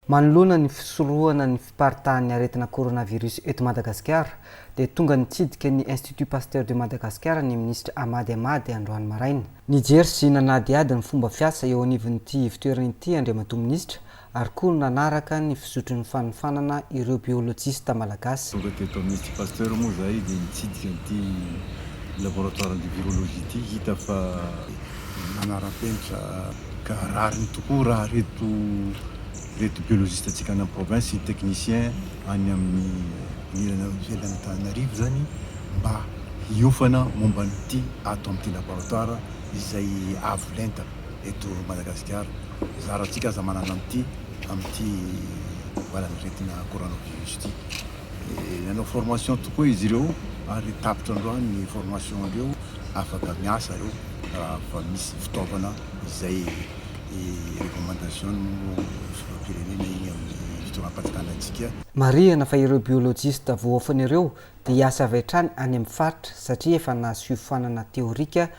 Manoloana ny fisorohana ny fiparitahan'ny aretina coronavirus eto Madagasikara dia tonga nitsidika ny Institut Pasteur de Madagascar ny Minisitra Hamady Hamady androany maraina. Nijery sy nanadihady ny fomba fiasa eo anivon'ity ivotoerana ity Andriamatoa Minisitra ary koa nanaraka ny fizotrin'ny fanofanana ireo biolojista malagasy. Tonga teto amin'ny Institut Pasteur moa izahay dia nitsidika an'ity laboratoaran'ity virologie ity hita fa. manara-penitra ka rariny tokoa raha ireto ireto biolojista antsika any amin'ny province sy technicien any amin'ny anilana ivelan'ny Antananarivo izany mba hiofana momba an'ity ato amin'ity laboratoire izay avo lenta eto Madagasikara. Zara antsika aza manana an'ity amin'ity valan'aretina coronavirus ity. Dia nanao formation tokoa izy ireo ary tapitra androany ny formation andreo, afaka miasa reo raha fa misy fitaovana izay recommandation filohampirenena iny amin'ny fitondram-panjakana antsika. Marihana fa ireo biolojista voaofana ireo dia hiasa avy hatrany any amin'ny faritra satria efa nahazo fiofanana teorika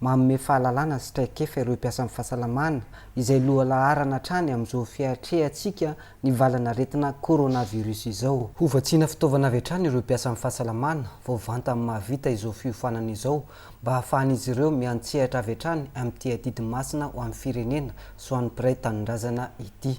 Manome fahalalana sy traikefa ireo mpiasan'ny fahasalamana, izay lohalaharana hatrany amin'izao fiatrehantsika ny valan'aretina coronavirus izao. Ho vatsiana fitaovana avy hatrany ireo mpiasan'ny fahasalamana, vao vantany mahavita izao fiofanana izao, mba hahafahan'izy ireo miantsehatra avy hatrany amin'ity adidy masina ho an'ny firenena sy ho an'ny mpiray tanindrazana ity.